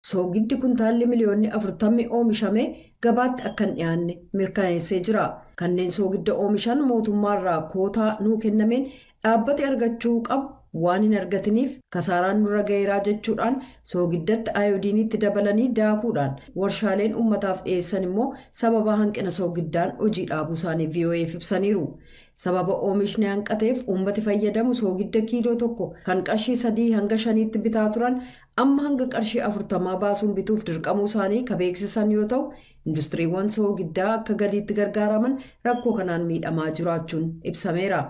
Soogiddi kuntaalli miliyoonni 40 oomishamee gabaatti akka hin dhiyaanne mirkaneessee jira. Kanneen soogidda oomishan mootummaarraa kootaa nuu kennameen dhaabbati argachuu qabu waan hin argatiniif kasaaraan nurra gaheeraa jechuudhaan soogiddatti ayoodiiniitti dabalanii daakuudhaan warshaaleen ummataaf dhiyeessan immoo sababaa hanqina soogiddaan hojii dhaabuu isaanii VOA'f ibsaniiru. Sababa oomishni hanqateef uummati fayyadamu soogidda kiiloo tokko kan qarshii sadii hanga shaniitti bitaa turan Amma hanga qarshii afurtamaa baasuun bituuf dirqamuu isaanii ka beeksisan yoo ta'u, industiriiwwan soogiddaa akka galiitti gargaaraman rakkoo kanaan miidhamaa jiraachuun ibsameera.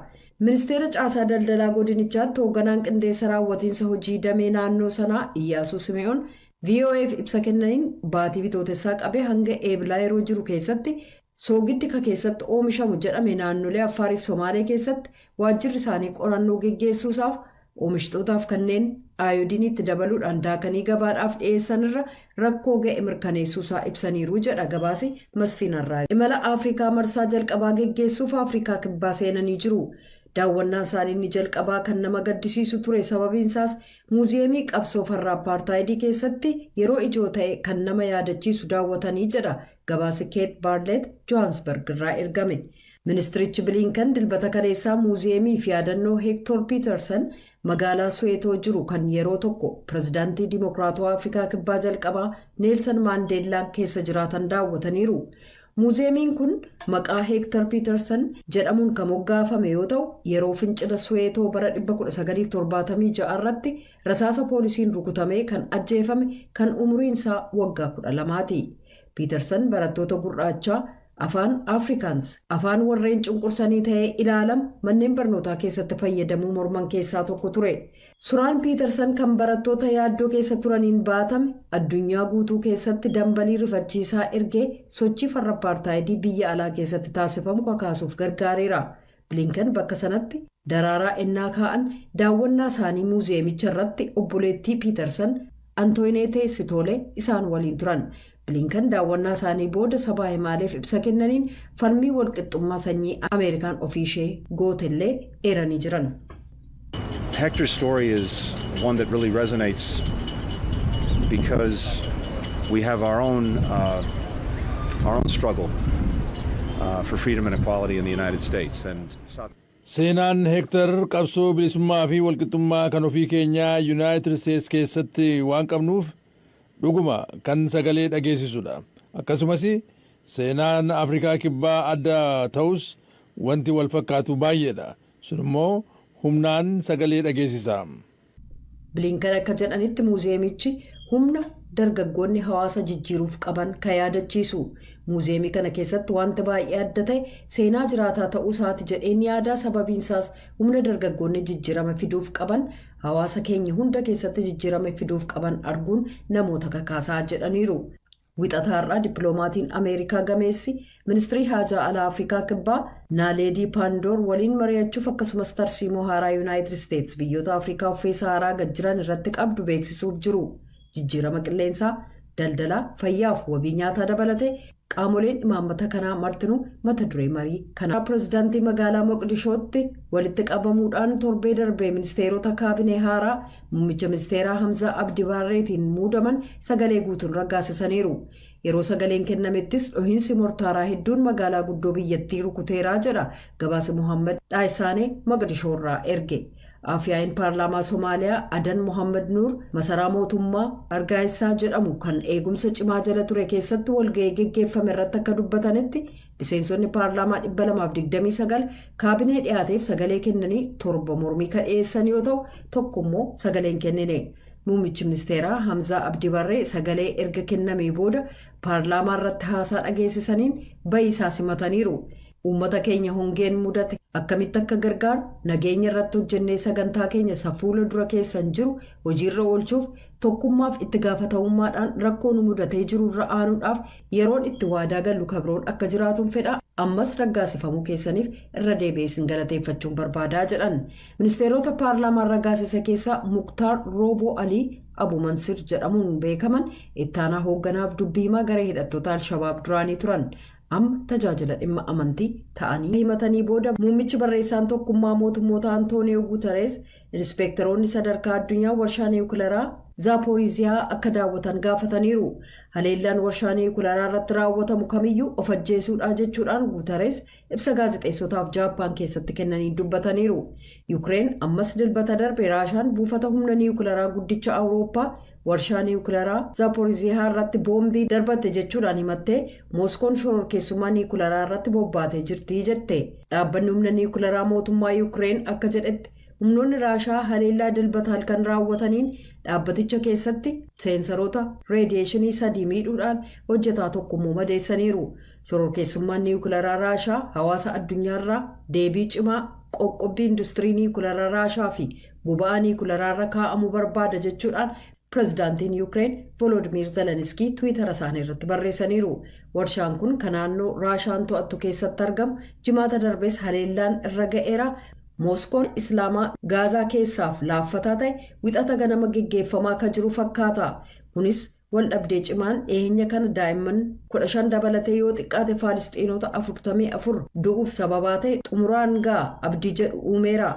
Ministeera Caasaa Daldalaa godinichaatti hoogganaan qindeessa raawwatiinsa hojii damee naannoo sanaa Iyyaasuu Sime'oon VOA'f ibsa kennaniin baatii Bitootessaa qabee hanga Eebilaa yeroo jiru keessatti Soogiddi ka keessatti oomishamu jedhame naannolee Affaarii fi Somaalee keessatti waajjirri isaanii qorannoo geggeessuu isaaf oomishtootaaf kanneen aayodiinii itti dabaluudhaan daakanii gabaadhaaf dhiyeessan irra rakkoo ga'e mirkaneessuu isaa ibsaniiru jedha gabaasi Masfiin Arraagee. Imala Afrikaa marsaa jalqabaa geggeessuuf Afrikaa Kibbaa seenanii jiru. Daawwannaan isaanii inni jalqabaa kan nama gaddisiisu ture sababiin isaas muuziyeemii qabsoo farra appaartaayidii keessatti yeroo ijoo ta'e kan nama yaadachiisu daawwatanii jedha Gabaasi Keet Baarleet Johaansbarg irraa ergame. Ministirichi Biliinkan dilbata kaleessaa muuziyeemii fi yaadannoo Heektoor Piitarsan magaalaa Suweetoo jiru kan yeroo tokko pirezidaantii Dimookiraatawaa Afrikaa Kibbaa jalqabaa Neelsan Maandeellaan keessa jiraatan daawwataniiru. Muuziyeemiin kun maqaa Heektar Piitarsan jedhamuun kan moggaafame yoo ta'u yeroo fincila Suweetoo bara 1976 irratti rasaasa poolisiin rukutamee kan ajjeefame kan umuriin isaa waggaa 12ti. Piitarsan barattoota gurraachaa afaan Afrikaans afaan warreen cunqursanii ta'ee ilaalamu manneen barnootaa keessatti fayyadamuu morman keessaa tokko ture. Suraan Piitarsan kan barattoota yaaddoo keessa turaniin baatame addunyaa guutuu keessatti dambalii rifachiisaa ergee sochii farra appaartaayidii biyya alaa keessatti taasifamu kakaasuuf gargaareera. Bilinken bakka sanatti daraaraa ennaa kaa'an daawwannaa isaanii muuziyeemicha irratti obboleettii Piitarsan Antooyineetee Sitoolee isaan waliin turan. Bilinken daawwannaa isaanii booda sabaa himaaleef ibsa kennaniin falmii walqixxummaa sanyii Ameerikaan ofii ishee gootellee eeranii jiran. Hector's story is one that really resonates because we have our own uh, our own struggle uh, for freedom and equality in the United States and South Seenaan Hektar qabsoo bilisummaa fi walqixxummaa kan ofii keenyaa Yuunaayitid Isteets keessatti waan qabnuuf dhuguma kan sagalee dhageessisudha. Akkasumas seenaan Afrikaa Kibbaa adda ta'us wanti wal fakkaatu baay'eedha. Sun immoo humnaan sagalee dhageessisa. Bilinkan akka jedhanitti muuziyeemichi humna dargaggoonni hawaasa jijjiiruuf qaban ka yaadachiisu. Muuziyeemii kana keessatti wanti baay'ee adda ta'e seenaa jiraataa ta'uu isaati jedheen yaadaa sababiin isaas humna dargaggoonni jijjiirama fiduuf qaban hawaasa keenya hunda keessatti jijjiirama fiduuf qaban arguun namoota kakaasaa jedhaniiru. Wixata har'aa dippiloomaatiin Ameerikaa gameessi ministirii haajaa alaa Afrikaa Kibbaa Naaleedii Paandoor waliin mari'achuuf akkasumas tarsiimoo haaraa Yuunaayitid Isteets biyyoota Afrikaa uffee Sahaaraa gad jiran irratti qabdu beeksisuuf jiru. Jijjiirama qilleensaa, daldalaa, fayyaaf wabii nyaataa dabalatee qaamoleen imaammata kanaa martinuu mata duree marii kanaa pirezidaantii magaalaa Moqdishootti walitti qabamuudhaan torbee darbee ministeerota kaabinee haaraa Muummicha ministeeraa Hamzaa Abdi Baarreetiin muudaman sagalee guutuun raggaasisaniiru. Yeroo sagaleen kennamettis dhohiinsi mortaaraa hedduun magaalaa guddoo biyyattii rukuteeraa jedha gabaasa Mohaammed Dhaayisaanee Moqdishoorraa erge. Afyaa'iin paarlaamaa Somaaliyaa Adan Mohaammed Nuur masaraa mootummaa Argaayisaa jedhamu kan eegumsa cimaa jala ture keessatti walga'ii geggeeffame irratti akka dubbatanitti Miseensonni paarlaamaa 229 kaabinee dhiyaateef sagalee kennanii torba mormii ka dhiyeessan yoo ta'u tokko immoo sagalee hin kennine. Muummichi ministeeraa Hamzaa Abdi Barree sagalee erga kennamee booda paarlaamaa irratti haasaa dhageessisaniin bayii isaa simataniiru. Uummata keenya hongeen mudate akkamitti akka gargaaru nageenya irratti hojjennee sagantaa keenya isa fuula dura keessan jiru hojiirra oolchuuf tokkummaaf itti gaafatamummaadhaan rakkoo nu mudatee jiru irra aanuudhaaf Yeroon itti waadaa gallu ka biroon akka jiraatun fedha, ammas raggaasifamuu keessaniif irra deebi'ee isin galateeffachuun barbaada, jedhan. Ministeerota paarlaamaan raggaasise keessaa Muktaar Rooboo Alii Abu Mansir jedhamuun beekaman ittaanaa hoogganaaf dubbi himaa garee hidhattoota Alshabaab duraanii turan. Amma tajaajila dhimma amantii ta'anii himatanii booda muummichi barreessaan tokkummaa mootummoota Antooniyoo Guutareez Inspeektaroonni sadarkaa addunyaa warshaa niwukilaraa Zaapooriiziyaa akka daawwatan gaafataniiru. Haleellaan warshaa niwukilaraa irratti raawwatamu kamiyyuu of ajjeesuudhaa jechuudhaan Guutarees ibsa gaazexeessotaaf Jaappaan keessatti kennaniin dubbataniiru. Yukireen ammas dilbata darbe Raashaan buufata humna niwukilaraa guddicha Awurooppaa Warshaa niwukilaraa Zaaporiziihaa irratti boombii darbatte jechuudhaan himattee Mooskoon shororkeessummaa niwukilaraa irratti bobbaatee jirti jette. Dhaabbanni humna niwukilaraa mootummaa Yuukireen akka jedhetti humnoonni Raashaa haleellaa Dilbata halkan raawwataniin dhaabbaticha keessatti seensaroota reediyeeshinii sadii miidhuudhaan hojjetaa tokko immoo madeessaniiru. Shororkeessummaan niwukilaraa Raashaa hawaasa addunyaarraa deebii cimaa qoqqobbii industirii niwukilaraa Raashaa fi boba'aa niwukilaraa kaa'amu barbaada jechuudhaan Pireezidaantiin Yuukireen Voloodmiir Zeleniskii Tiwiitara isaanii irratti barreessaniiru. Warshaan kun ka naannoo Raashaan to'attu keessatti argamu Jimaata darbees haleellaan irra ga'eera. Mooskoon Islaamaa Gaazaa keessaaf laaffataa ta'e Wixata ganama geggeeffamaa ka jiru fakkaata. Kunis Waldhabdee cimaan dhiheenya kana daa'imman 15 dabalatee yoo xiqqaate Faalisxiinota 44 du'uuf sababaa ta'e xumuraan ga'a abdii jedhu uumeera.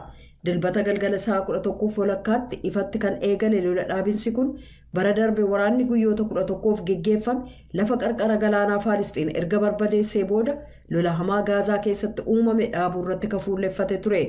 Dilbata galgala sa'a 11f walakkaatti ifatti kan eegale lola dhaabinsi kun bara darbe waraanni guyyoota 11f geggeeffame lafa qarqara galaanaa Faalisxiin erga barbadeessee booda lola hamaa Gaazaa keessatti uumame dhaabuurratti ka fuulleffate ture.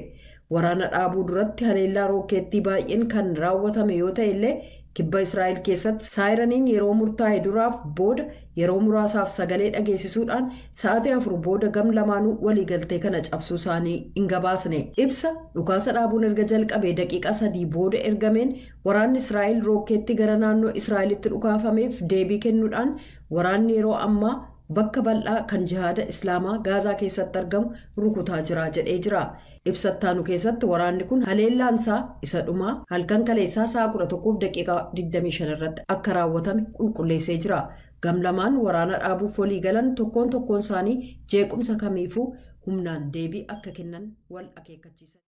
Waraana dhaabuu duratti haleellaa rookkeettii baay'een kan raawwatame yoo ta'e illee kibba Israa'el keessatti saayiraniin yeroo murtaa'e duraaf booda yeroo muraasaaf sagalee dhageessisuudhaan sa'aatii afur booda gam lamaanuu waliigaltee kana cabsuu isaanii hin gabaasne. Ibsa dhukaasa dhaabuun erga jalqabee daqiiqaa sadii booda ergameen waraanni Israa'el rookkeettii gara naannoo Israa'elitti dhukaafameef deebii kennuudhaan waraanni yeroo ammaa bakka bal'aa kan jihaada Islaamaa Gaazaa keessatti argamu rukutaa jira jedhee jira. Ibsa ittaanu keessatti waraanni kun haleellaan isaa isa dhumaa halkan kaleessaa sa'a 11:25 irratti akka raawwatame qulqulleessee jira. Gamlamaan waraana dhaabuuf walii galan tokkoon tokkoon isaanii jeequmsa kamiifuu humnaan deebii akka kennan wal akeekkachiisaniiru.